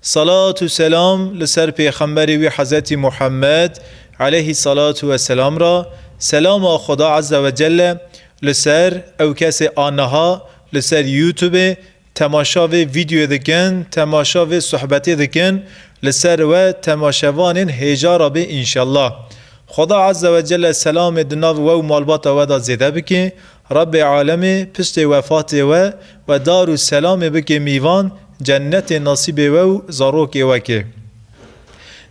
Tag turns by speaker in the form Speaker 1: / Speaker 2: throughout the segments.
Speaker 1: Salat û selam li ser pêxemberê wî Hezretî Muhammed eleyhî salatû we selam re, selama Xweda Ezze ve Celle li ser ew kesê a niha li ser youtubê temaşa vê vîdyoyê dikin, temaşa vê suhbetê dikin li ser we temaşevanên hêja re bê înşellah. Xweda Ezze ve Celle selamê di nav we û malbata we de zêde bike. Rabbê alemê piştê wefatê we we dar û selamê bikê mîvan cennetê nasîbê we û zarokê we kê.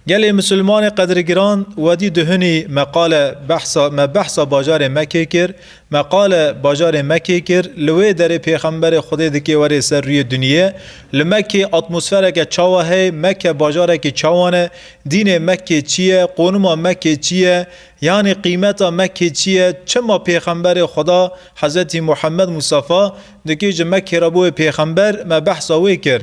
Speaker 1: Gelê Musulmanê qedirgiran wedî duhunî me qale behsa me behsa bajarê Mekê kir, me qale bajarê Mekê kir li wê derê pêxemberê Xwedê dikê were ser rûyê duniyê, li Mekê atmosfereke çawa heye, Meke bajarekî çawan e, dînê Mekê çi ye, qonuma Mekê çi ye, Yanî qîmeta Mekkê çi ye? Çima Pêxemberê Xweda, Hezretî Muhemmed Mustafa, di kêjê Mekkê re bûye pêxember, me behsa wê kir.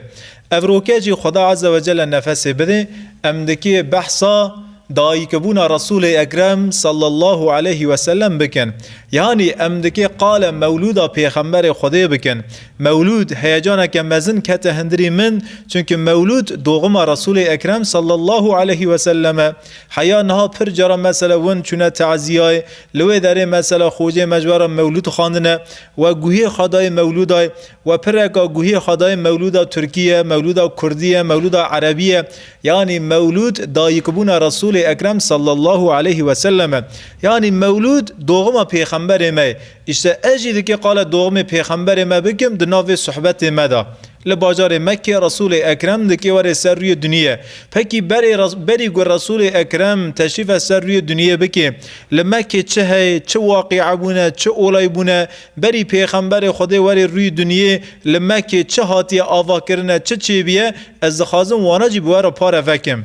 Speaker 1: Ev roke jî Xweda Eze we Celle nefesê bidê, em di kê behsa dayikbûna Resûlê Ekrem sallallahu aleyhi ve sellem bikin. Yanî em di kê qale mewlûda Pêxemberê Xwedê bikin. Mewlûd, heyecaneke mezin kete hindirî min, çimkî mewlûd doxuma Resûlê Ekrem sallallahu aleyhi ve sellem e. Heya niha pir caran mesela win çûne taziyayê, li wê derê mesela xocê me ji we re mewlûd xwendine, we guhê xwe dayê mewlûdayê, we pireka guhê xwe dayê mewlûda tirkî ye, mewlûda kurdî ye, mewlûda erebî ye, yanî mewlûd dayikbûna Resûlê Ekrem sallallahu aleyhî weselem e. Yanî mewlûd doxima pêxemberê me ye. Îşte ez jî dikê qala doximê pêxemberê me bikim di nav vê suhbetê me de. Li bajarê Mekkê Resûlê Ekrem di kêwerê ser rûyê duniyê. Pekî berê berî ku Resûlê Ekrem teşrîfe ser rûyê duniyê bikê, li Mekkê çi heye, çi waqîe bûne, çi olay bûne, berî Pêxemberê Xwedê werê rûyê duniyê, li Mekkê çi hatiye avakirine, çi çêbûye, ez dixwazim wana jî bi we re pare vekim.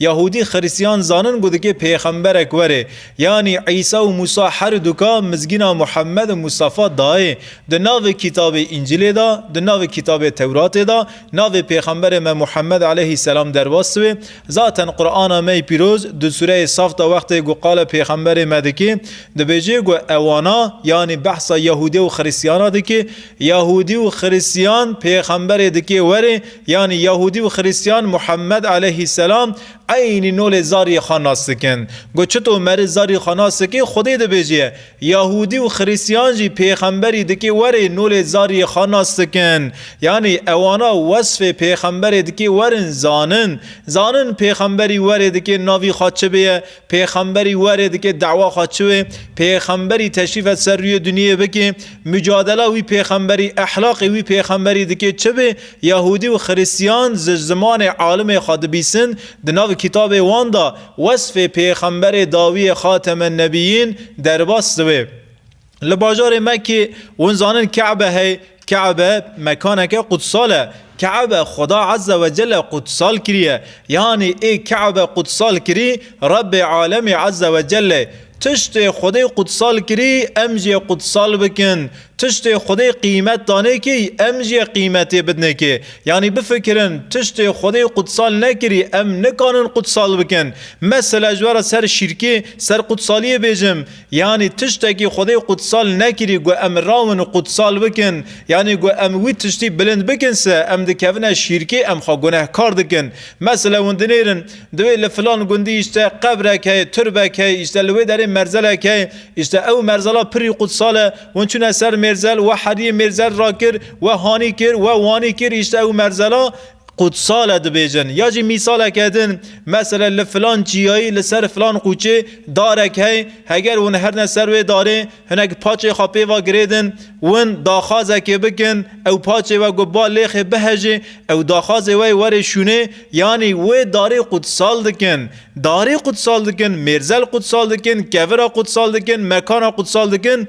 Speaker 1: Yahûdî Xirîstiyan zanin ku dikê pêxemberek were. Yanî Îsa û Mûsa her du ka mizgîna Muhemed û Mustafa dayê. Di navê kîtabê Încîlê de, di navê kîtabê Tewratê de navê pêxemberê me Muhemed eleyhî selam derbas dibe. Zaten Qur'ana me yê pîroz di sûreyê Saf de wextê ku qala pêxemberê me dike dibêje ku ewana yanî behsa Yahûdê û Xirîstiyana dike, Yahûdî û Xirîstiyan pêxemberê dikê were, Yanî Yahûdî û Xirîstiyan Muhemmed aleyhî selam eynî nolê zariyê xwe nas dikin. Got çito meri zarî xwe nas dikê Xwedê dibêjê. Yahûdî û Xirîstiyan jî pêxemberî dikê werê nolê zariyê xwe nas dikin. Yanî ewana wesfê pêxemberê dikê werin zanin. Zanin pêxemberî werê dikê navî xwe çi bêye Pêxemberî werê dike dawa xwe çiwê pêxemberî teşrîfe ser rûyê dunyeyê bikê, mucadela wî pêxemberî, ehlaqê wî pêxemberî dikê çibê, yahûdî û xirîstîyan ji zimanê alimê xwe dibîsin, di nav kîtabê wan de wesfê pêxemberê dawiyê xatemen nebîyîn derbas diwê. Li bajarê Mekkê hûn zanin Ke'be heye, Ke'be mekaneke qudsal e. Ke'be Xweda Ezze we Celle qudsal kiriye. Yanî ê Ke'be qudsal kirî, Rebbê Alemî Ezze we Celle. Tiştê Xwedê qudsal kirî, em jê qudsal bikin. Tiştê Xwedê qîmet danê kî, em jê qîmetê bidnê kê. Yanî bifikirin, tiştê Xwedê qudsal nekirî, em nikanin qudsal bikin. Mesela ji we re ser şîrkê, ser qudsaliyê bêjim. Yanî tiştekî Xwedê qudsal nekirî ku em rawin qudsal bikin, yanî ku em wî tiştî bilind bikin se em dikevine şîrkê, em xwe gunehkar dikin. Mesele hûn dinêrin, divê li filan gundî îşte qebrek heye, turbek heye, îşte li wê derê merzelek heye, îşte ew merzela pirrî qudsal e, hûn çûne ser mêrzel, we heriyê mêrzel rakir, we hanî kir, we wanî kir, îşte ew merzela Qutsale dibêjin ya jî mîsaleke din mesela li filan çiyayî li ser filan qûçê darek hey heger hûn herine ser wê darê hinek paçê xwe pê ve girêdin win daxwazekê bikin ew paçê we ku ba lêxê bihejê ew daxwazê we yê werê şûnê yanî wê darê qutsal dikin darê qutsal dikin mêrzel qutsal dikin kevira qutsal dikin mekana qutsal dikin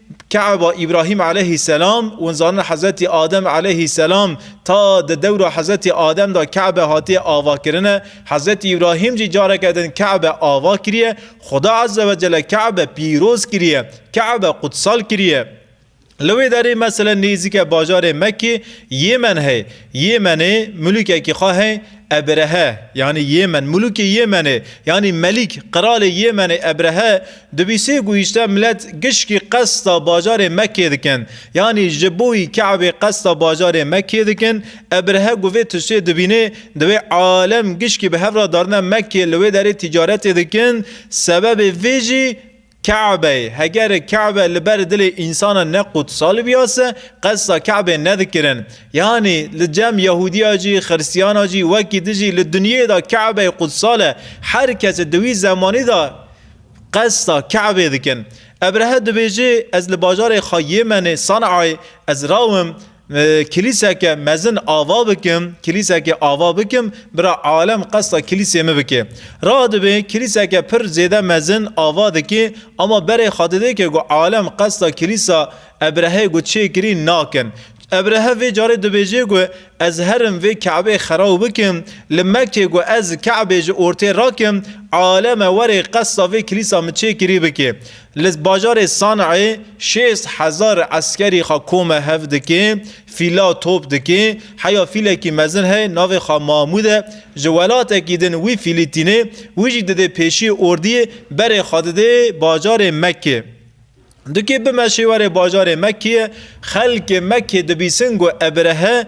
Speaker 1: Keaba Îbrahîm eleyhî selam, hûn zanin Hezretî Adem eleyhî selam ta di dewra Hezretî Adem de Keabe hatiye avakirine, Hezretî Îbrahîm jî careke din Keabe ava kiriye, Xweda Ezze Wecelle Keabe pîroz kiriye, Keabe qudsal kiriye. Li wê derê meselen nêzîke bajarê Mekkê Yêmen hey. Yêmenê mulûkekî xwe hey, Ebrehe, yanî Yêmen, Mulûkê Yêmenê, yanî Melîk, Qiralê Yêmenê Ebrehe, dibîsê ku îşte milet gişkî qesta bajarê Mekkê dikin, yanî ji boî Kabê qesta bajarê Mekkê dikin, Ebrehe ku vê tiştê dibînê, divê alem gişkî bi hev re darine Mekkê li wê derê tîcaretê dikin, sebebê vê jî Kabeyê, heger Kabe li ber dilê însanan ne qudsal biyase, qesta Kabeyê nedikirin. Yanî li cem Yehudiya cî, Xiristiyana cî, wekî di jî li dinyeyê de Kabeyê qudsal e. Her kes di wî zemanî de qesta Kabeyê dikin. Ebrehe dibêje, Ez li bajarê xwe Yêmenê, San'ayê, ez rawim, Kilîseke mezin ava bikim, kilîsekê ava bikim, bira alem qesta kilîsê min bike. Radibê kilîseke pir zêde mezin ava dikê, ama berê xwe didê ke ku alem qesta kilîsa Ebreheyê ku çêkirî nakin. Ebrehe vê carê dibêje ku ez herim vê Ke'beyê xeraw bikim, li Mekkê ku ez Ke'beyê ji ortê rakim, aleme werê qesta vê kilîsa min çêkirî bike. Li bajarê San'ê şêst hezar eskerî xwe kome hev dike, fîla top dike. Heya fîlekî mezin heye navê xwe Mamûd e. Ji welatekî din wî fîlî tîne. Wî jî didê pêşî ordiyê berê xwe didê bajarê Mekkê. Dikê bimeşê were bajarê Mekkê. Xelkê Mekkê dibîsin ku Ebrehe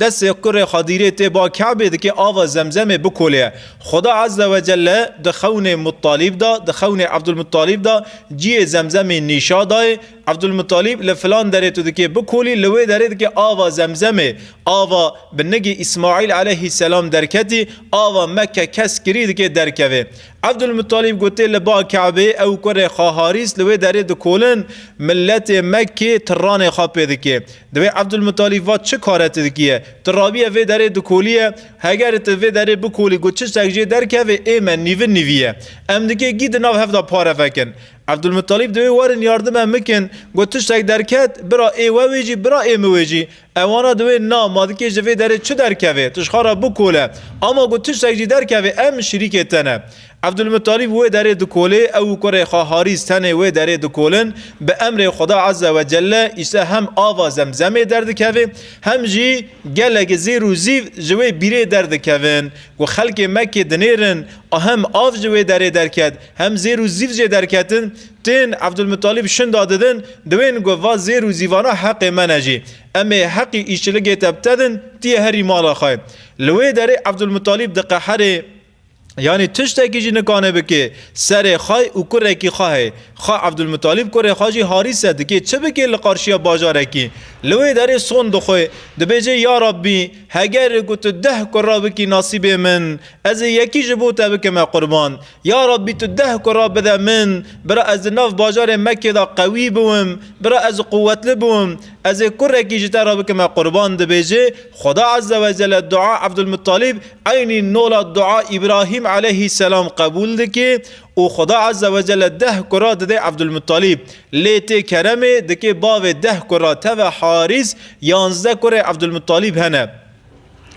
Speaker 1: Destê kurê Xedîrê tê ba Kabê dikê ava Zemzemê bikolê. Xweda Ezze ve Celle di xewnê Muttalîb de, di xewnê Ebdulmuttalîb de ciyê Zemzemê nîşa dayê. Ebdulmuttalîb li filan derê tu dikê bikolî, li wê derê dikê ava Zemzemê. Ava bi nigê Îsmaîl eleyhîsselam derketî, ava me ke kes kirî dikê derkevê. Ebdulmuttalîb gotê li ba Kabê ew kurê xwe Harîs li wê derê dikolin. Miletê Mekkê tiranê xwe pê dikê. Divê Ebdulmuttalîb vat, Çi kare tu dikî ye? Tu rabiye vê derê dikolîye, hegerê tu vê derê bikolî ku çi ştek jê derkeve ê me nîvin nîvî ye. Em dikê gî di nav hev de pare vekin. Ebdulmuttalîb divê werin yardime min kin. Got, Tu ştek derket, bira ê we wê jî, bira ê min wê jî. Ewana diwê na, ma dikê ji vê derê çi derkeve? Tu ji xwe re bikole. Ama ku tu ştek jî derkeve em şirîkê te ne. Ebdulmuttalîb wê derê dikolê, ew û kurê xwe Harîs tenê wê derê dikolin. Bi emrê Xuda Azze ve Celle Îsa hem ava Zemzemê derdikeve hem jî gelek zêr û zîv ji wê bîrê derdikevin. Ku xelkê Mekkê dinêrin a hem av ji wê derê derket hem zêr û zîv jê derketin. Tên Ebdulmuttalîb şinda didin diwên ku va zêr û zîvana heqê me ne jî. Em ê heqî îşçiligê te btedin tiyê herî mala xwe. Li wê derê Ebdulmuttalîb diqeherê. Yanî tiştekî jî nikane bikê. Serê xwe û kurekî xwe heye. Xwe Evdulmutalîb kurê xwe jî harîse dikê. Çi bikê li qarşiya bajarekî? Li wê derê son dixwe. Dibêje ya Rabbî! Heger ku tu deh kura bikî nasîbê min, ez ê yekî ji bo te bikime qurban. Ya Rabbî tu deh kura bide min, bira ez di nav bajarê Mekkê de qewî biwim, bira ez quwetli biwim. Ez ê kurekî ji te re bikim e qurban dibêje, Xweda Ezze ve Celle dua Ebdulmuttalîb eynî nola dua Îbrahîm eleyhî selam qebûl dike û Xweda Ezze ve Celle deh kura dide Ebdulmuttalîb. Lê tê keremê dike bavê deh kura teve Harîs, yanzdeh kurê Ebdulmuttalîb hene.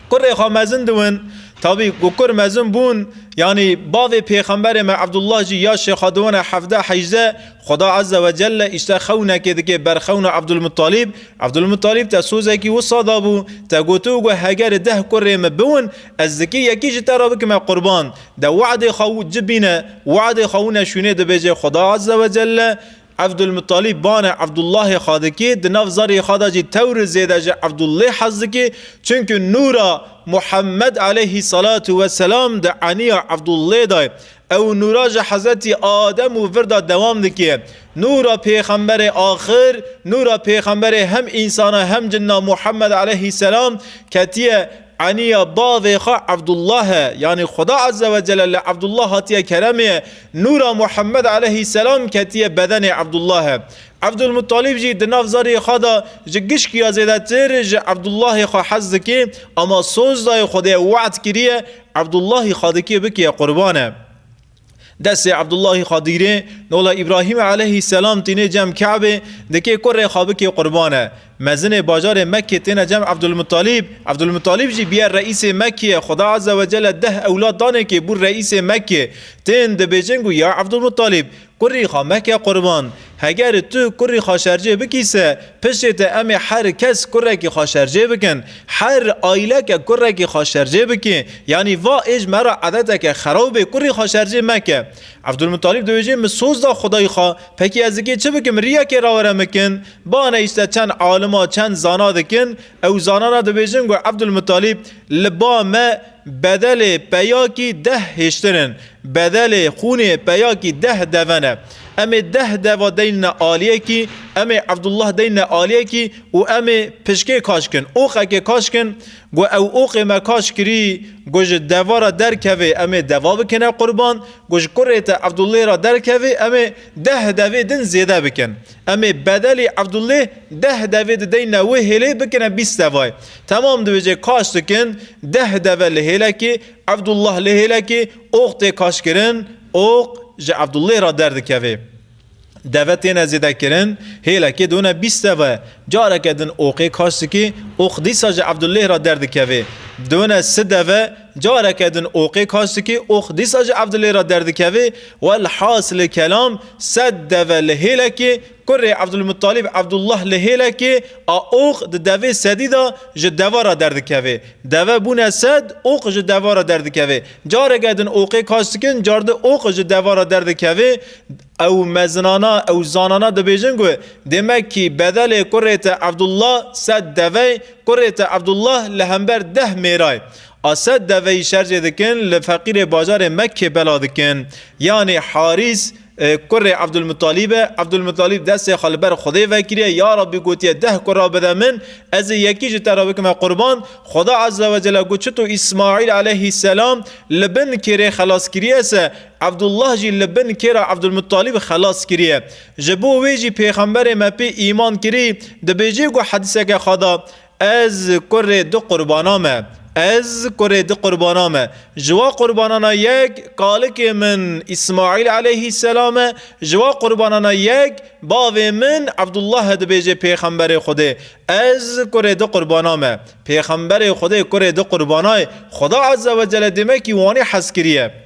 Speaker 1: Kurê xwe mezin diwin. Tabî ku kur mezin bûn, yanî bavê pêxemberê me Abdullah jî ya şêxa diwine hevdeh hejde, Xweda Ezze ve Celle îşte xewnekê dike ber xewna Abdulmuttalîb. Abdulmuttalîb te sozekî wisa dabû, te gotiw ku hegerê deh kurê me biwin, ez dikê yekî ji te re bikime qurban. De we'dê xwe ci bîne, we'dê xwe wine şûnê dibêje Xweda Ezze ve Celle, Evdulmuttalîb bane Evdullahê xwe dikê, di nav zarê xwe de jî tewr zêde ji Evdullê hez dikê, çimkû nûra Muhemmed aleyhî salatu we selam di eniya Evdullê de ye. Ew nûra ji Hezretî Adem û vir de dewam dikê. Nûra pêxemberê axir, nûra pêxemberê hem însan e hem cinna Muhemmed aleyhî selam ketiye Aniya bavê xwe Evdullah e, yanî Xweda Ezze ve Celle li Evdullah hatiye keremê, nûra Muhemmed Eleyhî Selam ketiye bedenê Evdullah. Evdulmuttalîb jî di nav zariyê xwe de ji gişkiya zêdetir ji Evdullahê xwe hez dike, ema soz dayê Xwedê we'd kiriye, Evdullahî xwe dike bike qurban e. Destê Abdullahî Xadîrê, Nola Îbrahîmê eleyhî selam tîne cem Kabê, dikê ku rê xwe bikê qurban e. Mezinê bajarê Mekkê têne cem Abdulmuttalîb. Abdulmuttalîb jî bûye reîsê Mekkê ye. Xuda Azze ve Celle deh ewlad danê kê bû reîsê Mekkê. Tên dibêjin ku ya Abdulmuttalîb, kurrî xwe meke qurban. Heger tu kurî xaşercê bikî se, piştê te em ê her kes kurekî xaşercê bikin. Her aîleke kurekî xaşercê bikê. Yanî va êj me re edeteke xerab ê, kurî xaşercê meke. Evdulmuttalîb dibêje min soz da xwedayî xwe. Pekî ez dikê çi bikim, rîyekê ra were mikin? Bane îşte çend alima, çend zana dikin. Ew zanana dibêjin ku Evdulmuttalîb li ba me, Bedelê peyakî deh hêştin in. Bedelê xûnê peyakî deh deven e. Em ê deh deva deynine aliyekî, em ê Evdullah deynine aliyekî û em ê pişkê kaş kin. Oxekê kaş kin. Got ew oxê me kaş kirî, got ji deva re derkevê em ê deva bikine qurban, got ji kurê te Evdullê re derkevê em ê deh devê din zêde bikin. Em ê bedelî Evdulê deh devê dideyn ne wê hêlê bikine bîst devay. Temam dibêje kaş dikin deh deve li hêlekê, Evdullah li hêlekê, oq tê kaşkirin, oq ji Evdulê re derdikeve. Deve têne zêdekirin, hêlekê done bîst deve. Careke din oqê kaş dikê, oq dîsa ji Evdulê re derdikeve. Done si deve. Careke din oxê kaç dikê, ox dîsa jî ev dilê re derdikeve. Welhasilê kelam, sed deve li hêlekê, kurê Ebdulmuttalîb Ebdullah li hêlekê, a ox di devê sedî de ji deva re derdikeve. Deve bûne sed, ox ji deva re derdikeve. Careke din oxê kaç dikin, carde ox ji deva re derdikeve. Ew mezinana, ew zanana dibêjin ku Demekî bedelê kurê te Evdullah sed deve, kurê te Evdullah li hember deh mêray a sed deveyî şercê dikin, li feqîrê bajarê Mekkê bela dikin. Yanî Harîs kurê Evdulmuttalîb e. Evdulmuttalîb destê xwe li ber Xwedê vekiriye, Ya Rabbî gotiye deh kura bide min, ez ê yekî ji te re bikime qurban. Xweda Ezzewecelle got çi tu Îsmaîl eleyhîsselam li bin kêrê xelas kiriye se, Evdullah jî li bin kêra Evdulmuttalîb xelas kiriye. Ji bo wê jî pêxemberê me pê îman kirî, dibêjê ku hedîseke xwe da, Ez kurê du qurbana me. Ez kurê du qurbana me. Ji wa qurbanana yek kalikê min Îsmaîl eleyhîsselam e, ji wa qurbanana yek bavê min Evdullah e dibêjê pêxemberê Xwedê, Ez kurê du qurbana me. Pêxemberê Xwedê kurê du qurbanayê, Xweda Ezzewecelle dêmekî wanî hez kiriye.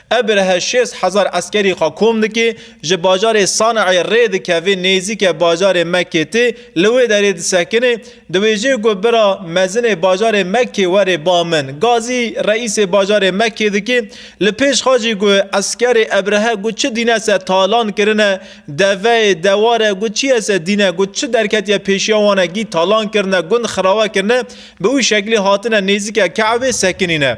Speaker 1: Ebrehe şêst hezar eskerî xwe kom dike, ji bajarê Sanayê rê dikeve nêzîke bajarê Mekkê tê, li wê derê disekine. Di wê jê ku bira mezinê bajarê Mekkê were ba min, gazî reîsê bajarê Mekkê dike. Li pêş xwe jî ku eskerê Ebrehe ku çi dîne se talan kirine, deveyê, deware ku çi ye se dîne, ku çi derketiye pêşiya wan e gî talan kirine, gund xirawe kirine, bi wî şeklî hatine nêzîke Ke'ebê sekinîne.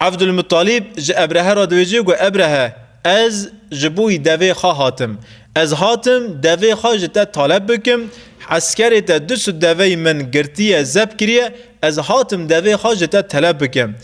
Speaker 1: Evdulmuttalîb ji Ebrehe re diwêje got, Ebrehe, ez ji bo wî devê xwe hatim. Ez hatim devê xwe ji te taleb bikim. Eskerê te du sud deveyî min girtiye, zeb kiriye. Ez hatim devê xwe ji te teleb bikim.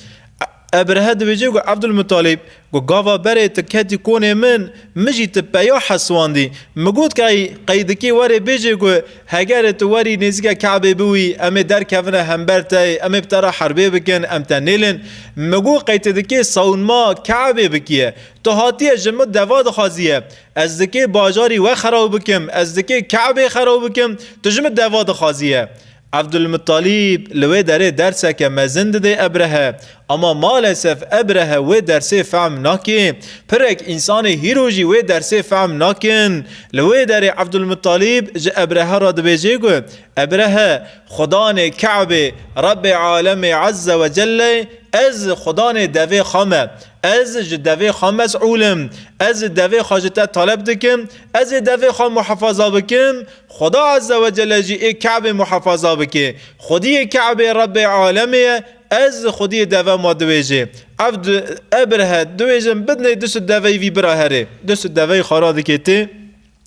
Speaker 1: Ebrehe diwêje got, Evdulmuttalîb, got gava berê tu ketî konê min, min jî tu peya heswandî. Min got key qey dikê were bêje got, Hegerê tu werî nêzîka Kabê biwî, em ê derkevine hember te yê, em ê bi te re herbê bikin, em te nêlin. Min got, qey tu dikê sawinma Kabê bikîye. Tu hatiye ji min deva dixwazîye. Ez dikê bajarî we xerab bikim, ez dikê Kabê xerab bikim, tu ji min deva dixwazîye. Evdulmuttalîb li wê derê derseke mezin didê Ebrehe. Ama malesef Ebrehe wê dersê fehm nake. Pirek însanê hîro jî wê dersê fehm nakin. Li wê derê Ebdulmuttalîb ji Ebrehe re dibêje ku Ebrehe, Xudanê Ke'bê, Rebbê Alemê Ezze we Celle, Ez Xudanê devê xwe me. Ez ji devê xwe mes'ûl im. Ez devê xwe ji te taleb dikim. Ez ê devê xwe muhefaza bikim. Xuda Ezze we Celle jî ê Ke'bê muhefaza bike. Xwediyê Ke'bê Rebbê Alemê ye. Ez xwediyê deve ma diwêjê. Ev di e bir he diwêjin bidinê du sud deveyî vî bira herê. Du sud deveyî xwe ra diketê,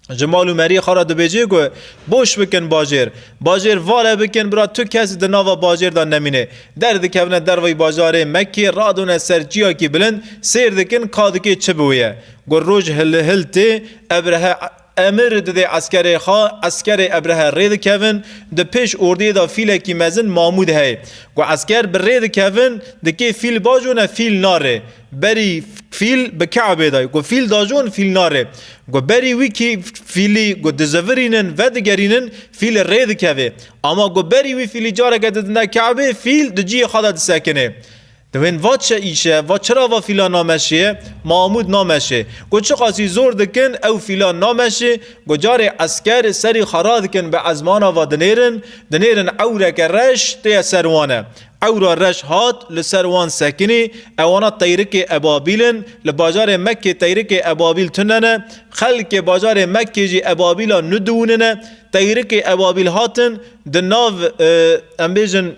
Speaker 1: ji mal û meriyê xwe ra dibêjê ku boş bikin bajêr. Bajêr vale bikin bira tu kes di nava bajêr de nemînê. Derdikevine derveyî bajarê Mekkê radone ser çiyakî bilind sêr dikin ka dikê çi bi wê ye. Ku roj hilhil tê, e bir he Emir dide eskerê xwe, eskerê Ebrehe rê dikevin, di pêş ordiyê de fîlekî mezin Mamûd heye. Ku esker bi rê dikevin, dikê fîl bajone fîl nare. Berî fîl bi Keebê de, ku fîl dajon fîl nare. Ku berî wî kî fîlî ku dizivirînin, vedigerînin, fîlî rê dikeve. Ama ku berî wî fîlî careke didine Keebê, fîl di ciyê xwe de disekine. Divên va çi îş e, va çira va fîlan nameşê, Mamûd nameşê. Ku çiqasî zor dikin ew fîlan nameşê, ku carê esker serî xwe radikin bi ezmana va dinêrin, dinêrin ewreke reş têye ser wan e. Ewra reş hat li ser wan sekinî, ewana teyrikê ebabîl in, li bajarê Mekkê teyrikê ebabîl tune ne, xelkê bajarê Mekkê jî ebabîla nû diwûnine, teyrikê ebabîl hatin di nav em bêjin,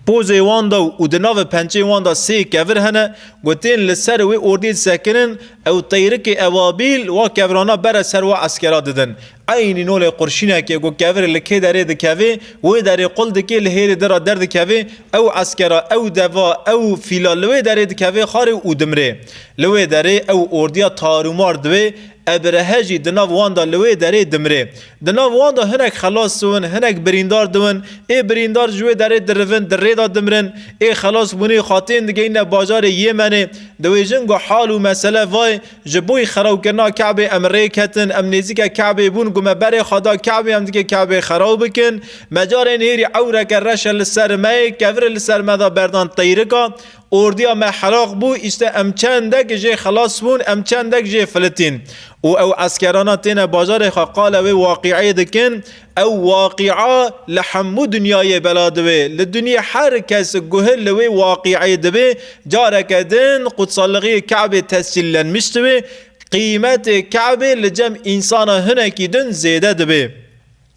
Speaker 1: pozê wan de û di navê pençeyên wan de sê kevir hene ku tên li ser wê ordiyê disekirin, ew teyrikê Ebabîl wa kevirana bere ser wa eskera didin. Eynî nolê qurşînekê ku kevirê li kê derê dikevê, wê derê qul dikê li hêrê din re derdikevê, ew eskera, ew deva, ew fîla li wê derê dikevê xarê û dimirê. Li wê derê ew ordiya tarûmar diwê, Ebrehe jî di nav wan de li wê derê dimrê. Di nav wan de hinek xelas siwin, hinek birîndar diwin. Ê birîndar ji wê derê dirivin, di rê de dimrin. Ê xelasbûnê xwe tên digihîne bajarê Yêmenê. Di wê jin ku hal û mesele vayê, ji boî xerabkirina Kabê em rê ketin, em nêzîke Kabê bûn ku me berê xwe da Kabê em dikê Kabê xerab bikin. Me carên hêrî ewreke reş e li ser me yê, kevir e li ser me de berdan teyrika. Ordiya me heraq bû, îşte em çendek jê xelas bûn, em çendek jê filitîn. Û ew eskerana têne bajarê xwe qala wê waqîeyê dikin, ew waqîa li hemû dinyayê bela dibe. Li dinyê her kes guhil li wê waqîeyê dibe, careke din qutsalliğiyê Ke'bê tescîllenmiş dibe, qîmetê Ke'bê li cem însana hinekî din zêde dibe.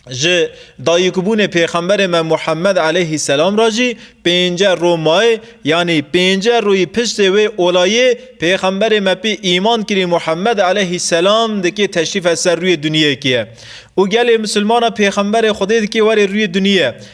Speaker 1: Ji dayikbûnê pêxemberê me Muhemmed eleyhî selam re jî pênceh roj maye, yanî pênceh rojî piştê wê olayê pêxemberê me pê îman kirî Muhemmed eleyhî selam dikê teşrîfe ser rûyê duniyekê ye û gelê misilmanan pêxemberê Xwedê dikê werê rûyê duniyê ye.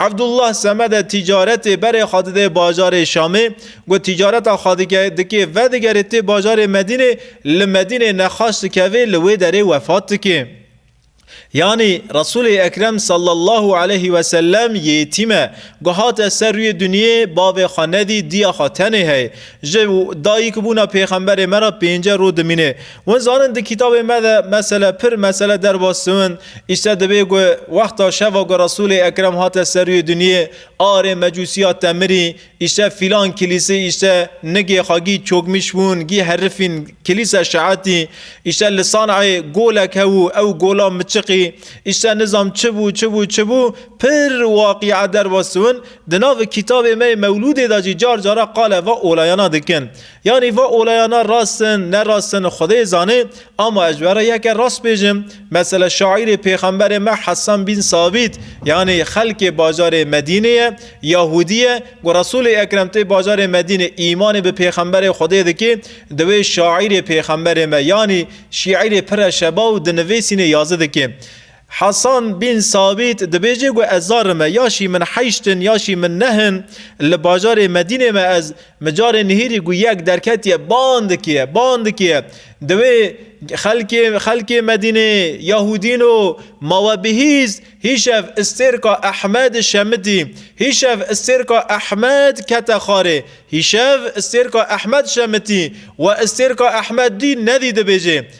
Speaker 1: Evdullah Semede tîcaretê berê xwe dide bajarê Şamê, got tîcareta xwe dike dikê vedigere tê bajarê Medînê, li Medînê nexaş dikeve li wê derê wefat dike. Yanî Resûlê Ekrem sallallahu aleyhî wesellem yêtîm e, ku hate ser rûyê dinyê bavê xwe nedî diya xwe tenê heye. Ji dayîkbûna pêxemberê me re pênce roj dimîne. Hûn zanin di kitabê me de mesele pir mesele derbas diwin, îşte dibê ku wexta şeva ku Resûlê Ekrem hate seruyê dinyê a erê Mecûsiya te mirî, îşte fîlan kilîsê îşte nigê xwe gî çokmîş wûn gî herifîn kilîse şeetî, îşte li San'ayê golek hebû ew gola miçiqî, îşte nizam çi bû çi bû çi bû pir waqîe derbas diwin, di nav kitabê me yê Mewlûdê de jî car cara qal eva olayana dikin. Yanî va olayana rast in, ne rast in Xwedê zanê, ama ez were yeke rast bêjim, mesele şaîrê pêxemberê me Hesan bîn Sabît, yanî xelkê bajarê Medînê ye, Yahûdî ye, ku Resûlê Ekrem tê bajarê Medînê îmanê bi pêxemberê Xwedê dikê, di wê şaîrê pêxemberê me yanî şîîrê pire şeba û di nivêsînê yazî dikê. Hasan bin Sabît dibêje ku ez zar me ya şî min heyşt in ya şî min neh in, li bajarê Medînê me ez mi carê nihîrî ku yek derketiye ban dikiye, ban dikiye. Di wê xelkê xelkê Medînê Yahûdîn o ma we bihîs hîşev Îstêrka Ehmed şemitî. Hîşev Îstêrka Ehmed kete xarê. Hîşev Îstêrka Ehmed şemitî. We Îstêrka Ehmed dî nedî dibêje.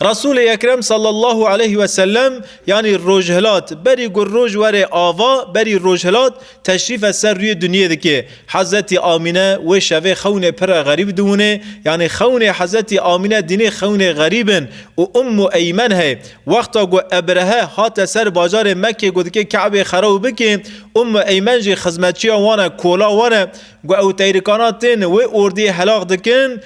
Speaker 1: Resulê Ekrem sallallahu aleyh ve sellem yanî rojhilat berî ku roj were ava berî rojhilat teşrîfe ser rûyê dinyê dike. Hezetî Amîne wê şevê xewnê pir e xerîb diwine yanî xewnê Hezetî Amîne dînê xewnê xerîb in û Ummu Eymen heye. Wexta ku Ebrehe hate ser bajarê Mekke ku dike Kabê xerab bike Ummu Eymen jî xizmetçiya wan e kola wan e ku ew teyrikana tên wê ordiyê helax dikin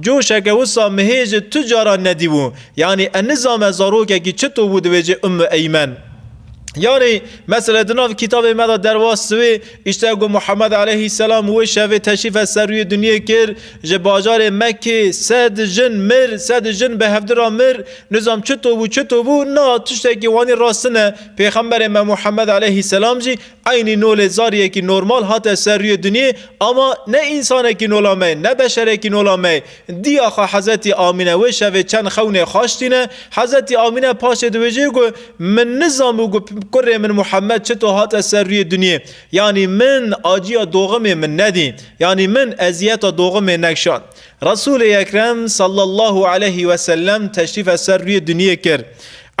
Speaker 1: Coşeke wisa mi hê ji tu caran nedîbû. Yanî ez nizame zarokekî çito bû dibêje Ummu Eymen. Yanî mesele di nav kitabê me de derbas dibe. Îşte ku Muhammed aleyhîsselam wê şevê teşrîfe ser rûyê dinyê kir, ji bajarê Mekkê sed jin mir, sed jin bi hevdi re mir. Nizam çito bû, çito bû? Na, tiştekî wanî rastine. Pêxemberê me Muhammed aleyhîsselam jî Eynî nolê zariyekî normal hate ser rûyê dinyê ama ne însanekî nola me ne beşerekî nola me. Dîyaxa Hezetî Amîne wê şevê çend xewnê xaş tîne. Hezetî Amîne paşê diwêjê ku Min nizanbû ku kurê min Muhemed çito hate ser rûyê dinyê. Yanî min acîya doximê min nedî. Yanî min eziyeta doximê nekşand. Resûlê Ekrem sallallahu aleyhi ve sellem teşrîfe ser rûyê dinyê kir.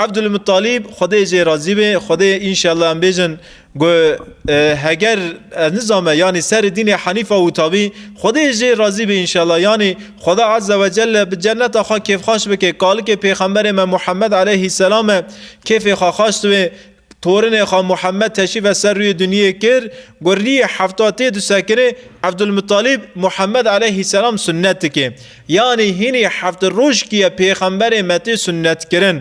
Speaker 1: Ebdulmuttalîb, Xwedê jê razî be, Xwedê înşella em bêjin ku heger ez nizame yanî serê dînê henîf a wita bî, Xwedê jê razî be înşella yanî Xweda azze ve celle bi cenneta xwe kêfxaş bike, kalikê pêxemberê me Muhemmed aleyhîsselam e kêfê xwe xaş dibe, Torinê xwe Muhammed teşrîfe ser rûyê dinyê kir, ku rîyê hefta tê disekinê, Ebdulmuttalîb Muhammed eleyhîsselam sunnet dike. Yanî hînî heft roj kî ye pêxemberê me tê sunnetkirin.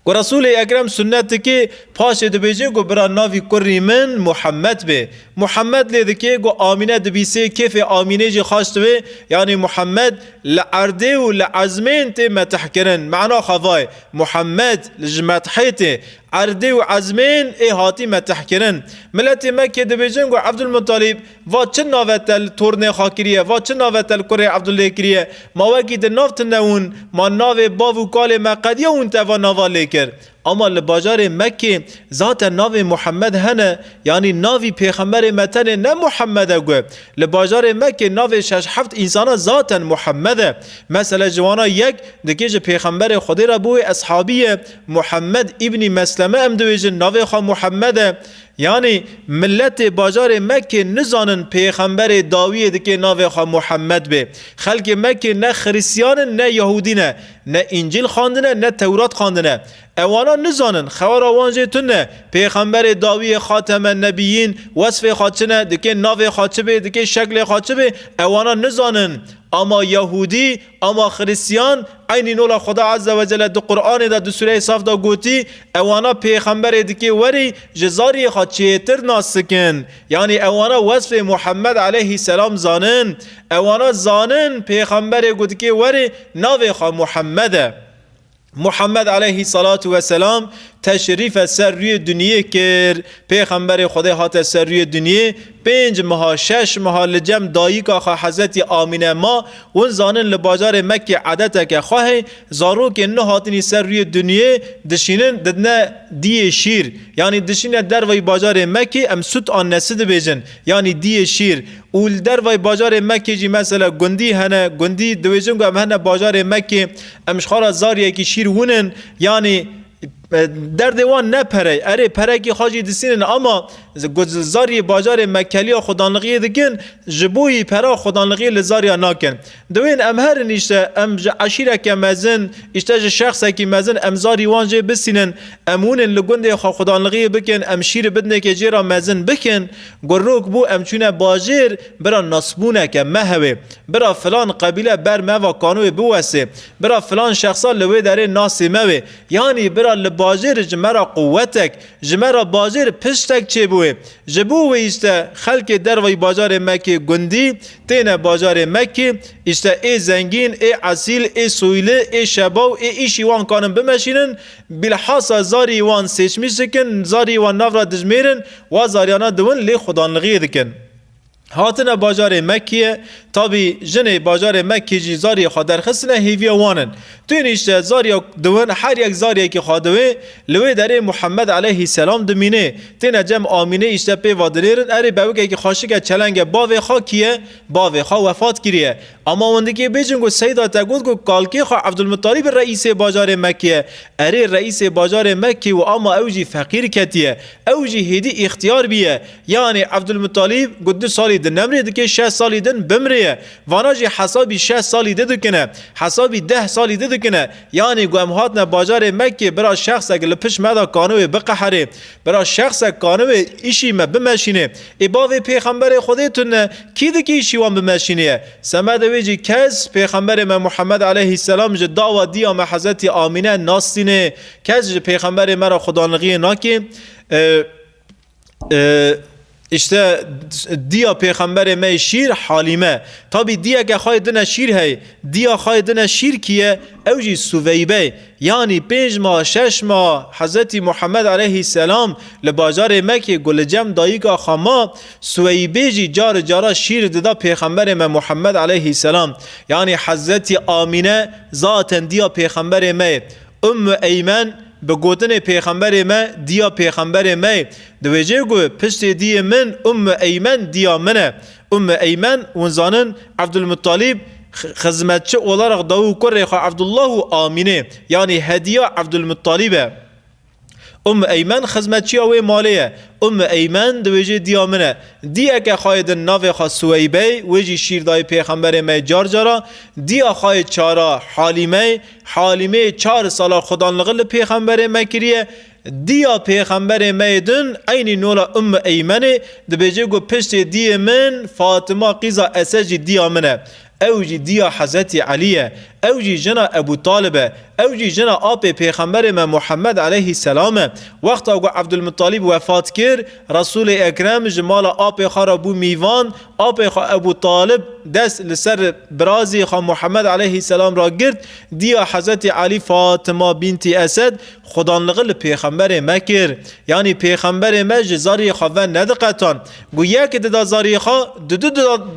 Speaker 1: Ku Resûlê Ekrem sunnet dike, paşê dibêje ku bira navî kurrî min Muhammed be. Muhammed lê dike ku Amîne dibîsê, kêfê Amînê jî xweş dibe. Yanî Muhammed li erdê û li ezmên tê metihkirin. Mena xwe va ye. Muhammed li ji Medhêtê, Erdê û Ezmên ê hatî metehkirin. Miletê me kê dibêjin ku Evdulmutalîb va çi nave te li tornê xwe kiriye, va çi nave te li kurê Evdulê kiriye, ma wekî di nav tune wûn, ma navê bav û kalê me qediya wûn te va nava lê kir. Ama li bajarê Mekkê zaten navê Muhammed hene, yanî navî pêxemberê me tenê ne Muhammed e got. Li bajarê Mekkê navê şeş heft însanan zaten Muhemmed e. Mesele ji wan a yek dikê ji Pêxemberê Xwedê re bo wê eshabî ye. Muhemmed îbnî Mesleme em diwêjin navê xwe Muhemmed e. Yanî miletê bajarê Mekkê nizanin Pêxemberê dawiyê dikê navê xwe Muhemmed bê. Xelkê Mekkê ne Xirîsyan in ne Yehûdî ne. Ne Încîl xwendine ne Tewrat xwendine. Ewana nizanin xewera wan jê tun e. Pêxemberê dawiyê xateme nebiyîn wesfê xwe çi ne, dikê navê xwe çi bê, dikê şeklê xwe çi bê, ewana nizanin. Ama yahûdî, ama xirîstiyan, eynî nola Xweda Ezze Wecelle di Quranê de di sûreyê Saf de gotî, ewana pêxemberê dikê werî ji zariyê xwe çêtir nas sikin. Yanî ewana wesfê Muhemmed eleyhî selam zanin. Ewana zanin pêxemberê ku dikê werî navê xwe Muhemmed e. Muhammed aleyhî selatu weselam teşrîfe ser rûyê dunyê kir. Pêxemberê Xwedê hate ser rûyê dunyê, pênc meha, şeş meha li cem dayika xwe Hezretî Amîne ma. Hûn zanin li bajarê Mekkê edeteke xwe heye, zarokên nû hatinî ser rûyê dunyê dişînin didine diyê şîr. Yanî dişîne derveyî bajarê Mekkê em sut an nesit dibêjin. Yanî diyê şîr. Û li derveyî bajarê Mekkê jî mesele gundî hene. Gundî diwêjin ku em hene bajarê Mekkê. Em ji xwe re zariyekî şîr winin, yanî derdê wan ne pere, erê perekî xwe jî disînin ama ku zariyê bajarê me keliya xwedanlixiyê dikin, ji bo wî pera xwedanlixiyê li zariya nakin. Dewên em herin îşte em ji eşîreke mezin, îşte ji şexsekî mezin em zarî wan jê bisînin, em winin li gundê xwe xwedanlixiyê bikin, em şîr bidnekê jê re mezin bikin, ku rok bû em çûne bajêr, Bira nasbûneke me hewê. Bira filan qebîle ber me va kanoyê biwesê. Bira filan şexsa li wê derê nasê me wê. Yanî bira li bajêr ji me ra quwetek, ji me ra bajêr piştek çêbûyê. Ji bo wê îşte xelkê dervayî bajarê me kê gundî, têne bajarê me kê, îşte ê zengîn, ê esîl, ê soyli, ê şebaw, ê îşî wan kanin bimeşînin, bîlhasa zarî wan sêçmîç dikin, zarî wan nav ra dijmêrin, wa zarîyana diwin lê xwedanlixiyê dikin. Hatine bajarê Mekkîye, tabî jinê bajarê Mekkî jî zariyê xwe derxistine hêviya wan in. Tuyên îşte zariya diwin her yek zariyekî xwe diwê, li wê derê Muhemmed eleyhî selam dimînê. Têne cem amînê îşte pêva dinêrin erê bewikekî xweşike çelenge bavê xwe kî ye, bavê xwe wefat kiriye. Ama wendikê bêjin ku Seyda te got ku kalkê xwe Evdulmuttalîb reîsê bajarê Mekkê ye. Erê reîsê bajarê Mekkê û ama ew jî feqîr ketiye. Ew jî hêdî îxtiyar bîye. Yanê Evdulmuttalîb got du salî din nemrê dikê şeş salî din bimrêye. Vana jî hesabî şeş salî di dikine. Hesabî deh salî di dikine. Yanê ku em hatine bajarê Mekkê bira şexsek li pişt me de kaniwê biqeherê. Bira şexsek kaniwê îşî me bimeşînê. Ê bavê pêxemberê Xwedê tu ne, kî dikê îşî wan bimeşînîye? Semedê wê jî kes pêxemberê me Muhemed eleyhî selam ji dawa dîya me Hezetî Amîne nastînê. Kes ji pêxemberê me re xwedanixiyê nakê. İşte diya pêxemberê me yê şîr Halîme. Tabî diyeke xayê din e şîr hey. Diya xayê din e şîr kî ye? Ew jî Suveybe. Yanî pênc ma, şeş ma Hezretî Muhammed eleyhî selam li bajarê Mekê ku li cem dayika xwe ma, Suweybê jî cari cara şîr dida pêxemberê me Muhammed eleyhî selam. Yanî Hezretî Amîne zaten diya pêxemberê me ye. Ummu Eymen bi gotinê pêxemberê me diya pêxemberê me ye. Diwêjê ku piştê diyê min Ummu Eymen diya min e. Ummu Eymen hûn zanin Evdulmuttalîb xizmetçi olaraq dawû kurê xwe Evdullah û Amînê yanî hediya Evdulmuttalîb e. Umm Eymen xizmetçiya wê malê ye. Umm Eymen diwêjê diya min e. Diye ke xayê din navê xwe Suweybey, wê jî şîr dayê pêxemberê me car cara, diya xayê çara Halîmey, Halîmê çar sala xwedanlixi li pêxemberê me kiriye, diya pêxemberê me yê din eynî nola Umm Eymenê dibêje ku piştê diyê min Fatima qîza Esed jî diya min e. Ew jî diya Hezretî Elî ye, ew jî jina Ebû Talib e, ew jî jina apê Pêxemberê me Muhemmed eleyhî selam e. Wexta ku Ebdulmuttalîb wefat kir, Resûlê Ekrem ji mala apê xwe re bû mîvan, apê xwe Ebû Talib dest li ser birazê xwe Muhemmed eleyhî selam re girt, diya Hezretî Elî Fatima bîntî Esed xwedanlixi li Pêxemberê me kir. Yanî Pêxemberê me ji zarê xwe ve nediqetand. Ku yekê dida zariyê xwe di du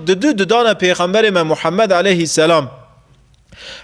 Speaker 1: di du didane pêxemberê me Muhammed aleyhî selam.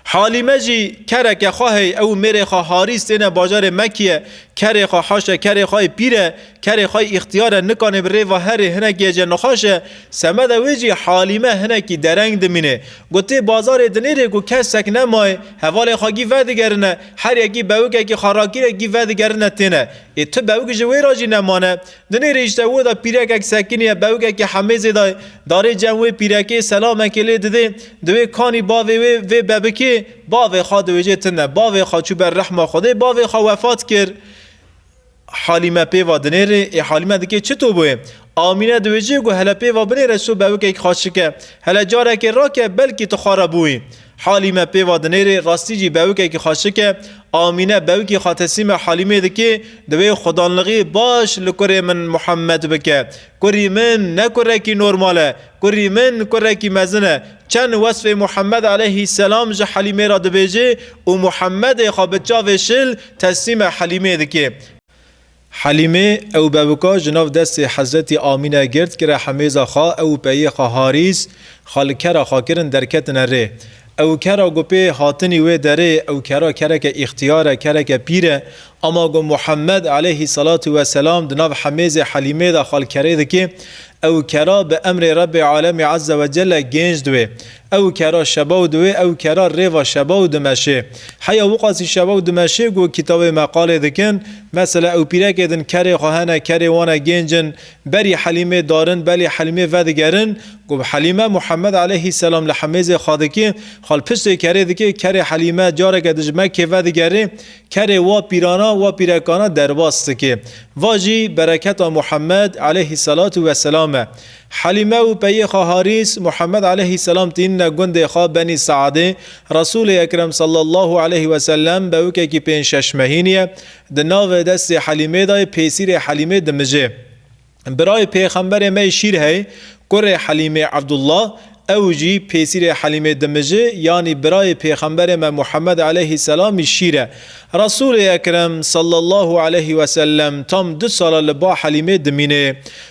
Speaker 1: Halîme jî kereke xwe hey, ew û mêrê xwe Harîs têne bajarê Mekiye, kerê xwe haşe, kerê xwe yê pîr e, kerê xwe yê îxtiyar e, nikanê bi rêva herê hinekî ye jê nixweş e, semeda wê jî Halîme hinekî dereng dimîne. Gotê bazarê dinêrê ku kesek nemaye, hevalê xwe gî vedigerine, her yekî bewikekî xwe rakîre gî vedigerine têne. Ê tu bewik ji wê re jî nemane? Di nêrê îştewû de pîrekek sekiniye bewikekî hemêzê de darê cem wê pîrekê selamekê lê didê di wê kanî bavê wê vê bebikê bavê xwe diwêjê tune bavê xwe çû ber rehma xwedê bavê xwe wefat kir Halîme pê va dinêrê ê Halîme dikê çi to bûyê Amîne diwêjê ku hele pê va binêre so bewikekî xwe şike hele carekê rake belkî tu xwe re bûyî Halî me pêva dinêrê, rastî jî bewikekî xwe şike. Amîne bewikî xwe teslîme Halîmê dike, divê xwedanlixî baş li kurê min Muhammed bike. Kurî min ne kurekî normal e, kurî min kurekî mezin e. Çend wesfê Muhammed eleyhî selam ji Halîmê re dibêje û Muhammedê xwe bi çavê şil teslîme Halîmê dike. Helîmê, Ewbewika ji nav destê Hezretî Amîne girt, kire hemêza xwe, ew û peyê xwe Harîs, xwe li kera xwe kirin derketine rê. Ew kera ku pê hatinî wê derê, ew kera kereke îxtiyar e, kereke pîr e, ema ku Muhemmed eleyhî selatû we selam di nav hemêzê Helîmê de xwe li kerê dikê, ew kera bi emrê Rebbê Alemî Ezze we Celle gênc diwê. Ew kera şebaw diwê, ew kera rêva şebaw dimeşê. Heya wiqasî şebaw dimeşê ku kitawê me qalê dikin. Mesela ewpîrekê din kerê xwe hene, kerê wan e gênc in. Berî Helîmê darin, belê Helîmê vedigerin. Ku bi Helîme Muhemed eleyhî selam li hemêzê xadikê, xwe li piştê kerê dikê, kerê Helîme careke di ji Mekkê vedigerê, kerê wa pîrana, wa pîrekana derbas dikê. Va jî bereketa Muhemed eleyhî selatu weselam e. Helîme û peyê xwe Harîs, Muhemed eleyhî selam tînine gundê xwe Benî Seadê, Resûlê Ekrem sallallahu eleyhî ve sellem bewikekî pênc şeş mehîn ye, di navê destê Helîmê de yê pêsîrê Helîmê dimijê. Birayê pêxemberê me yê şîr hey, kurê Helîmê Ebdullah, ew jî pêsîrê Helîmê dimijê, yanî birayê pêxemberê me Muhemed eleyhî selam yê şîr e. Resûlê Ekrem sallallahu eleyhî ve sellem tam du sala li ba Helîmê dimînê.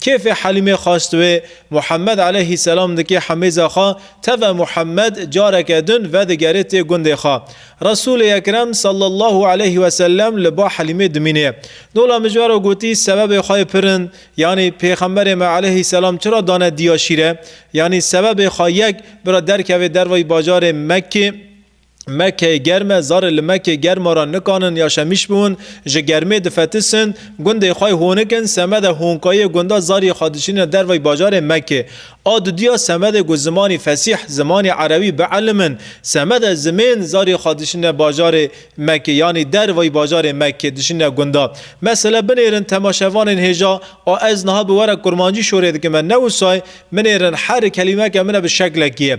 Speaker 1: Kêfê Helîmê xast wê. Muhemed eleyhî selam dikê hemêza xwe teve Muhemed careke din vedigerê tê gundê xwe. Resûlê Ekrem sallallahu eleyhî weselem li ba Helîmê dimînê. Dola mijwaro gotî sebebê xwe yê pirin, yanî pêxemberê me eleyhî selam çira dane diya şîre? Yanî sebebê xwe yek bira derkevê dervayî bajarê Mekkê? Mekeyê germ e, zarê li Mekê germ a ra nikanin ya şemîş biwin, ji germê difetisin, gundê xwe hûnikin, semede hûnkayê gunda zariyê xwe diçînin dervayî bajarê Mekê. A didiya semedê ku zimanî fesîh, zimanî erebî bielmin, semede zimên zariyê xwe diçînin bajarê Mekê, yanî dervayî bajarê Mekê, diçînin gunda. Mesele binêrin temaşevanên hêja, a ez niha bi were kurmancî şorê dikim e, ne wisay, binêrin her kelîmeke min e bi şeklekî ye.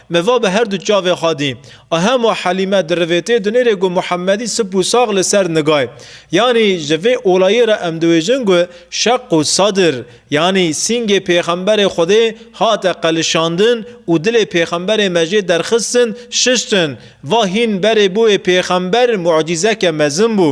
Speaker 1: Me va bi herdu çavê xwedî. A hema Helîme dirivêtê dinêrê ku Muhemedî sip û sax li ser nigay. Yanî ji vê olayê re em diwêjin ku Şeq û Sadr, yanî sîngê pêxemberê Xwedê hate qelişandin û dilê pêxemberê me jê derxistin, şiştin. Va hîn berê bo yê pêxember mucîzeke mezin bû.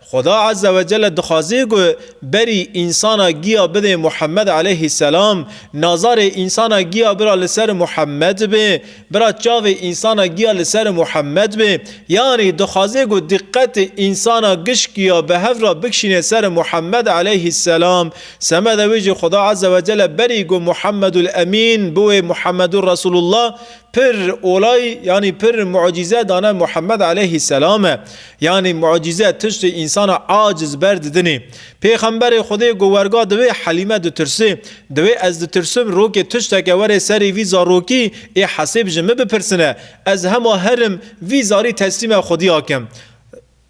Speaker 1: Xuda Azze ve Celle dixwaze ku berî însana giya bidê Muhemmed Eleyhî Selam, nazarê însana giya bira li ser Muhemmed be, bira çavê însana giya li ser Muhemmed be, yanî dixwaze ku diqetê însana gişkiya bi hev re bikşîne ser Muhemmed Eleyhî Selam, semeda wê jî Xuda Azze ve Celle berî ku Muhemmedul Emîn bi wê Muhemmedur Resûlullah Pir olay yanî pir mucîze dane Muhammed eleyhî selame. Yanî mucîze tiştê însana aciz ber didinê. Pêxemberê Xwedê got werga di wê Helîme ditirsê. Di wê ez ditirsim rokê tişteke were serê vî zarokî ê hesêb ji min bipirsine. Ez hema herim vî zarî teslîme Xwedî akim.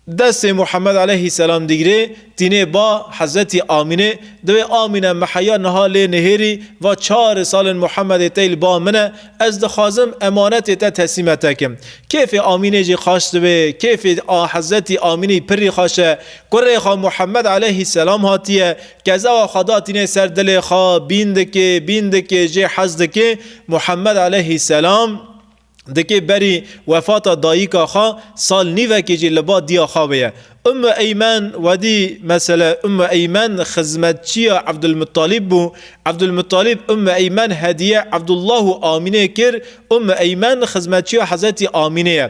Speaker 1: Destê Muhammed aleyhî selam digirê, tînê ba Hezretî Amînê, diwê Amîne miheya niha lê nihêrî, va çari salên Muhammedê tey li ba min e, ez dixwazim emanetê te teslîme te kim. Kêfê Amînê jî xaş diwê, kêfê Hezretî Amînî pirrî xaş e, kurê xwe Muhammed aleyhî selam hatiye, kezawa xwe da tînê ser dilê xwe, bîn dikê, bîn dikê, jê hez dikê, Muhammed aleyhî selam, Dikê berî wefata dayîka xwe sal nîvekê jî li ba diya xwe bûye. Ummu Eymen Wedî Mesele Ummu Eymen xizmetçiya Ebdulmuttalîb bû. Ebdulmuttalîb Ummu Eymen hediye Ebdullah û Amînê kir. Ummu Eymen xizmetçiya Hezretî Amînê ye.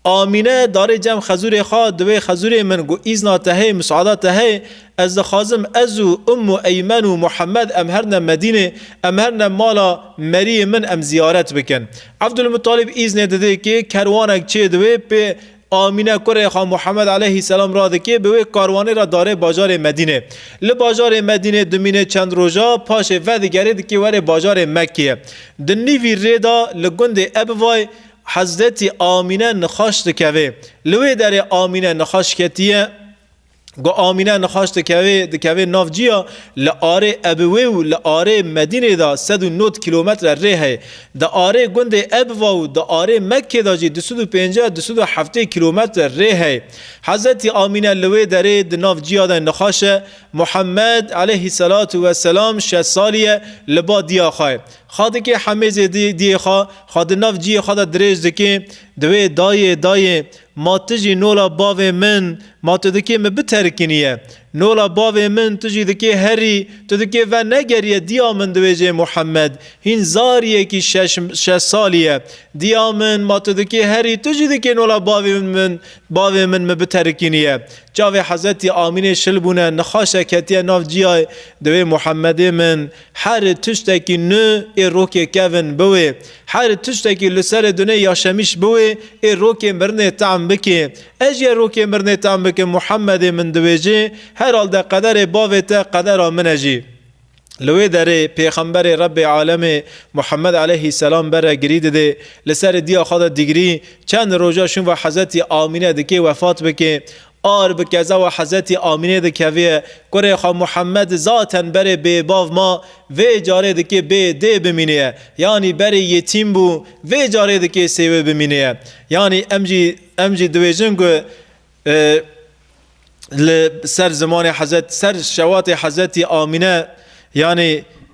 Speaker 1: Amîne, darê cem xezûrê xwe di wê xezûrê min got îzna te heye, musada te heye, ez dixwazim ez û Ummu Eymen û Muhammed em her ne Medînê, em her ne mala meriyê min em ziyaret bikin. Evdulmuttalîb îznê didê kê kerwanek çê di wê pê Amîne kurê xwe Muhammed aleyhîsselam radikê bi wê karwanê re darê bajarê Medînê. Li bajarê Medînê dimînê çend roja, paşê vedigerê dikê werê bajarê Mekkeyê. Di nîvî rê de li gundê Ebivay Hezretî Amîne nixweş dikeve. Li wê derê Amîne nixweş ketiye. Ku Amîne nixweş dikeve, dikeve nav ciya, li arê Ebiwê û li arê Medînê de sed û nod kîlometre rê heye. Di arê gundê Ebiwa û di arê Mekkê de jî du sed û pênceh, du sed û heftê kîlometre rê heye. Hezretî Amîne li wê derê di nav ciya de nixweş e. Muhemmed, eleyhî selatu weselam, şeş salî ye, li ba diya xwe ye. Xadikê Hemê Zêdî diyê xwe xwe di nav ciyê xwe de dirêj dike, diwê Dayê, dayê, ma tu jî nola bavê min, ma tu dikê min biterkiniye. Nola bavê min tu jî dikê herî, tu dikê venegeriye diya min diwêjê Muhemed, hîn zariyekî şeş şeş salî ye. Diya min, ma tu dikê herî, tu jî dikê nola bavê min bavê min min biterkiniye. Çavê Hezretî Amînê şil bûne, nixaşe ketiye nav ciyayê, diwê Muhemedê min, Her tiştekî nû ê rokê kevn biwê. Her tiştekî li serê dunê ya şemîş biwê ê rokê mirinê tehm bikê. Ez yê rokê mirinê tehm bikim Muhemedê min diwêjê, heralde qederê bavê te qedera min e jî. Li wê derê pêxemberê Rebbê alemê Muhemed eleyhî selam bere girî didê, li serê diya xwe de digirî, çend roja şûn ve Hezretî Amîne dikê wefat bikê. Ar bi kezawa Hezretî Amînê dikeviye, kurê xwe Muhemmed zaten berê bêbav ma, vê carê dikê bê dê bimînêye, yanî berê yetîm bû, vê carê dikê sêwê bimînêye. Yanî em jî em jî diwêjin ku li ser zimanê Hezret, ser şewatê Hezretî Amîne yanî,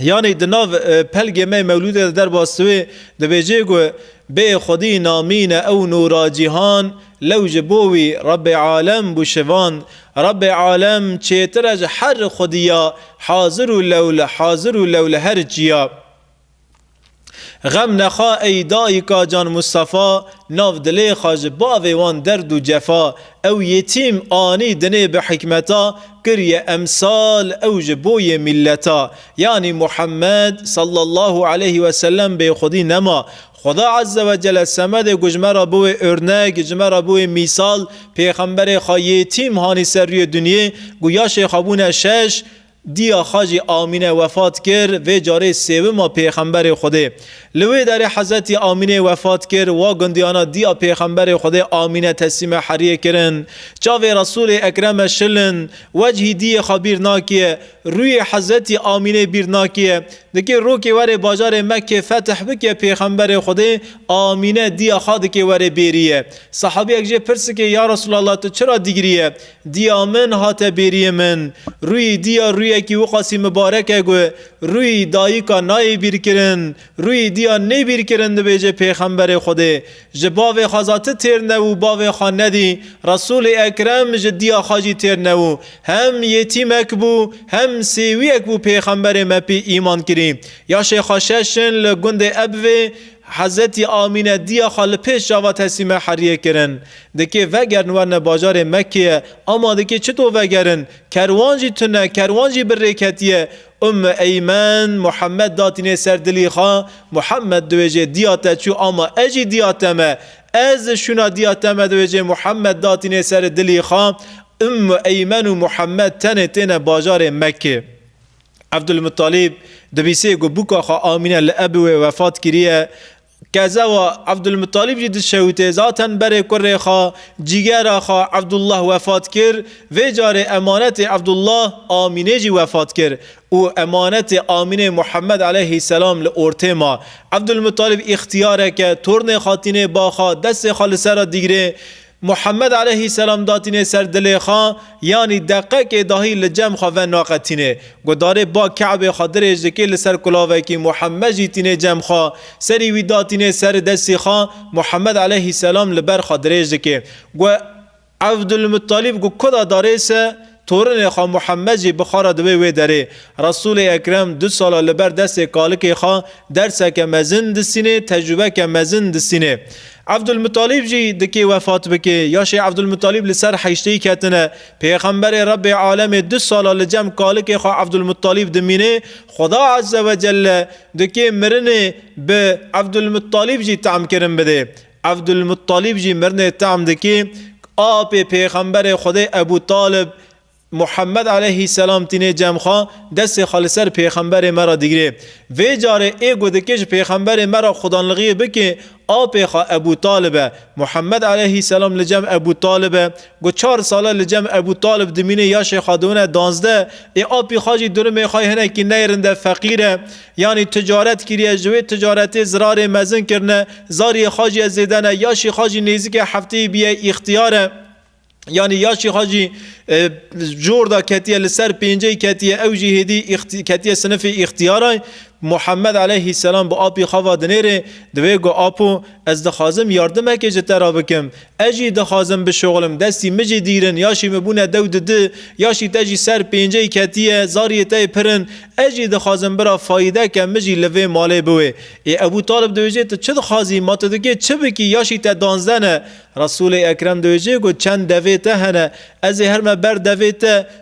Speaker 1: Yanî di nav pelgê me mewlûdê de derbas diwê, dibêjê ku bê xwedî namîne ew nûra cîhan, lew ji bo wî Rebbê alem bû şivand. Rebbê alem çêtir e ji her xwedîya hazir û lew li hazir û lew li her çîya. Xem nexa ey dayika can Mustafa Nav dilê xwe ji bavê wan derd û cefa Ew yetîm anî dinê bi hikmeta Kiriye emsal ew ji bo yê mîlleta Yanî Muhammed sallallahu aleyh we sellem bê xwedî nema Xweda eze we cele semedê ku ji me re biwê örnek Ji me re biwê mîsal Pêxemberê xwe yetîm hanî ser rûyê dinyê Ku yaşê xwe bûne şeş Diya xwe jî Amîne wefat kir, vê carê sêwima pêxemberê Xwedê. Li wê derê Hezretî Amînê wefat kir, wa gundiyana diya pêxemberê Xwedê Amîne teslîme heriyê kirin. Çavê Resûlê Ekreme şil in, wecihî diyê xwe bîr nakiye, rûyê Hezretî Amînê bîr nakiye. Dikê rokê werê bajarê Mekkê fetih bikiye pêxemberê Xwedê Amîne diya xwe dikê werê bêriye. Sehabiyek jê pirsikê Ya Resûlallah tu çira dîgiriye? Diya min hate bêriyê min. Rûyî diya rûyekî wiqasî mibarek e gu, Rûyî dayika nayê bîrkirin. Rûyî diya nêbîrkirin dibêje pêxemberê Xwedê. Ji bavê xwe za ti têr ne û bavê xwe nedî. Resûlê Ekrem ji diya xwe jî têr ne û hem yetîmek bû hem sêwiyek bû pêxemberê me pê îman kirî. Yaşê xwe şeş in li gundê Ebvê Hezretî Amîne diya xwe li pêş çava Tesîme Heriyê kirin. Dikê vegerin werne bajarê Mekkeyê, ama dikê çito vegerin? Kerwan jî tune, kerwan jî bi rê ketiye. Umm-i Eymen, Muhammed datînê ser dilî xwe, Muhammed diwêjê diya te çû ama ez jî diya te me. Ez şûna diya te me diwêjê Muhammed datînê seri dilî xwe. Umm-i Eymen û Muhammed tenê têne bajarê Mekkê. Ebdulmuttalîb dibîsê ku bûka xwe Amîne li Ebûê wefat kiriye. Kezewa Ebdulmuttalîb jî di şewitê zaten berê kurê xwe, cîgera xwe Ebdullah wefat kir, vê carê emanetê Ebdullah Amînê jî wefat kir û emanetê Amînê Muhemmed eleyhî selam li ortê ma. Ebdulmuttalîb îxtiyareke tornê xwe tînê baxa, destê xwe li ser re digirê, Muhammed aleyhî selam datînê ser dilê xwe, yanî deqekê dahî li cem xwe ve naqetînê. Gudarê ba Ke'bê xwe dirêj dikê li ser kulavekî, Muhammed jî tînê cem xwe. Serî wî datînê ser destî xwe, Muhammed aleyhî selam li ber xwe dirêj dikê. Gu Evdulmuttalîb gu kuda darê se, Torinê xwe Muhemmed jî bi xwe re dibe wê derê. Resûlê Ekrem du sala li ber destê kalikê xwe derseke mezin disînê, tecrûbeke mezin disînê. Evdulmuttalîb jî dikê wefat bike. Yaşê Evdulmuttalîb li ser heşteyî ketine. Pêxemberê Rebbê alemê du sala li cem kalikê xwe Evdulmuttalîb dimîne. Xweda Ezzewecelle dikê mirinê bi Evdulmuttalîb jî temkirin bide. Ebdulmuttalîb jî mirinê tehm dike ku apê pêxemberê Xwedê Ebû Talib, Muhemmed eleyhîsselam tîne cem xwe, destê xwe li ser pêxemberê me re digire. Vê carê ê ku dike ji pêxemberê me re xwedanlixiyê bike, apê xwe Ebû Talib e. Muhemmed eleyhîsselam li cem Ebû Talib e. Ku çar sale li cem Ebû Talib dimîne ya Şêxadewine danzdeh ê apî xwe jî durumê xwe yê hinekî neyrin de feqîr e. Yanî ticaret kiriye, ji wê ticaretê zirarê mezin kirine, zariyê xwe jî zêde ne, yaşî xwe jî nêzîkê hefteyî bûye îxtiyar e. Yanî yaşî xwe jî cor de ketiye, li ser pênceyî ketiye, ew jî hêdî ketiye sinifê îxtiyaran. Muhammed aleyhîsselam bi apî xwe ve dinêrê, diwê ku apo ez dixwazim yardimekê ji te re bikim, Ez jî dixwazim bişoxlim, destî min jî dîrin, ya şî min bûne dew di di, ya şî te jî ser pênceyî ketiye, zariyê te yê pir in. Ez jî dixwazim bira Faîde ke min jî li vê malê biwê. Ê Ebû Talib dibêje tu çi dixwazî, ma tu dikê çi bikî, ya şî te danzde ne. Resûlê Ekrem dibêje ku çend devê te hene, ez ê herme ber devê te,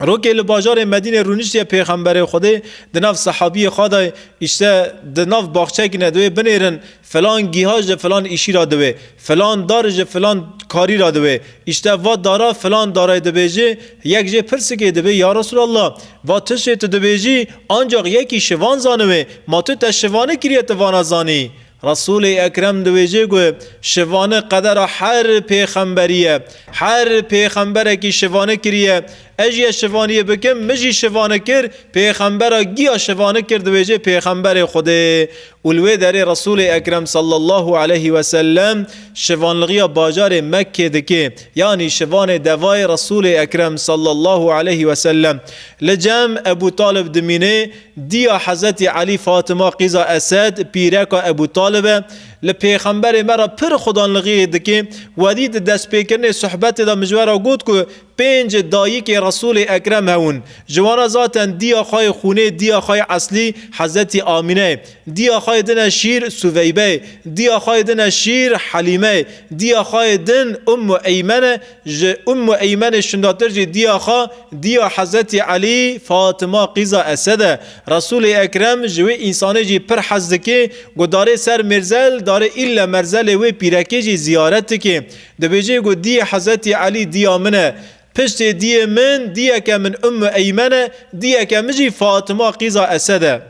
Speaker 1: Rokê li bajarê Medînê rûniştiye Pêxemberê Xwedê di nav sehabiyê xwe de îşte di nav baxçekî ne diwê binêrin filan gîha ji filan îşî ra diwê, filan dar ji filan karî ra diwê, îşte va dara filan darê dibêjê yek jê pirsikê dibê ya Resûlallah va tişê tu dibêjî ancax yekî şivan zaniwê ma tu te şivane kiriye tu vana zanî? Resûlê Ekrem dibêje ku şivanê qedera her pêxemberî ye. Her pêxemberekî şivane kiriye. Ez jî ez şivaniyê bikim, min jî şivane kir, pêxembera giya şivane kir dibêje pêxemberê Xwedê. Û li wê derê Resûlê Ekrem sallallahu aleyhi ve sellem şivanlgiya bajarê Mekkê dike. Yanî şivanê devayê Resûlê Ekrem sallallahu aleyhi ve sellem. Li cem Ebû Talib dimîne. Diya Hezretî Elî Fatima Qîza Esed, pîreka Ebû Talib e, li pêxemberê me re pir xudanlixiyê dike, wedî di destpêkirinê suhbetê de mijwe ra got ku pênc dayikê Resûlê Ekrem hewin. Ji wan re zaten diya xwe yê xûnê, diya xwe yê eslî Hezretî Amîne ye. Diya xwe yê din e şîr Suveybe ye. Diya xwe yê din e şîr Helîme ye. Diya xwe yê din Ummu Eymen e. Ji Ummu Eymenê şindatir jî diya xwe diya Hezretî Elî, Fatima qîza Esed e. Resûlê Ekrem ji wê însanê jî pir hez dike ku darê ser mêrzel darê îlle merzelê wê pîrekê jî ziyaret dike. Dibêje ku diyê Hezretî Elî diya min e. Piştê diyê min diyeke min Ummu Eymene, diyeke min jî Fatima qîza Esed e.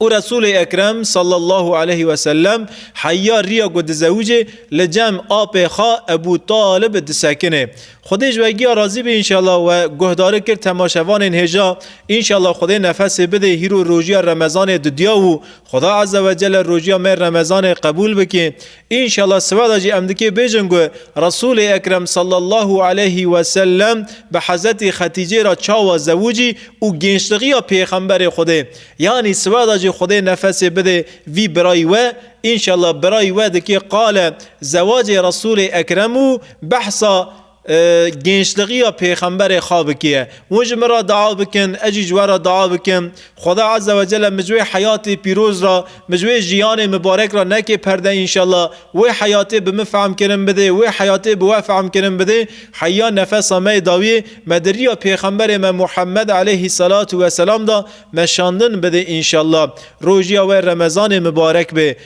Speaker 1: û Resûlê Ekrem sallallahu aleyh ve sellem heya riya ku dizewicê li cem apê xwe Ebû Talib disekinê. Xwedê ji we giya razî be înşallah we guhdari kir temaşevanên hêja înşallah Xwedê nefesê bidê hîro rojiya Remezanê didiya û Xweda Ezze ve Celle rojiya me Remezanê qebûl bike Înşallah siva de jî em dikê bêjin ku Resûlê Ekrem sallallahu aleyhî wesellem bi Hezretî Xetîcê re çawa zewicî û gênçlixiya Pêxemberê Xwedê yanî siva de jî Xwedê nefesê bidê vî birayî we, înşallah birayî we dikê qale zewacê Resûlê Ekrem û behsa Gençligiya Pêxemberê xwe bikiye. Hûn ji min re dua bikin, ez jî ji we re dua bikim. Xweda Eze Wecele min ji wê heyatê pîroz re, min ji wê jiyanê mibarek re neke perde înşella. Wê heyatê bi min fehm kirin bidê, wê heyatê bi we fehm kirin bidê. Heyya nefesa me yê dawiyê me di riya Pêxemberê me Muhammed eleyhî selatu weselam de me şandin bidê înşella. Rojiya we Remezanê mibarek be.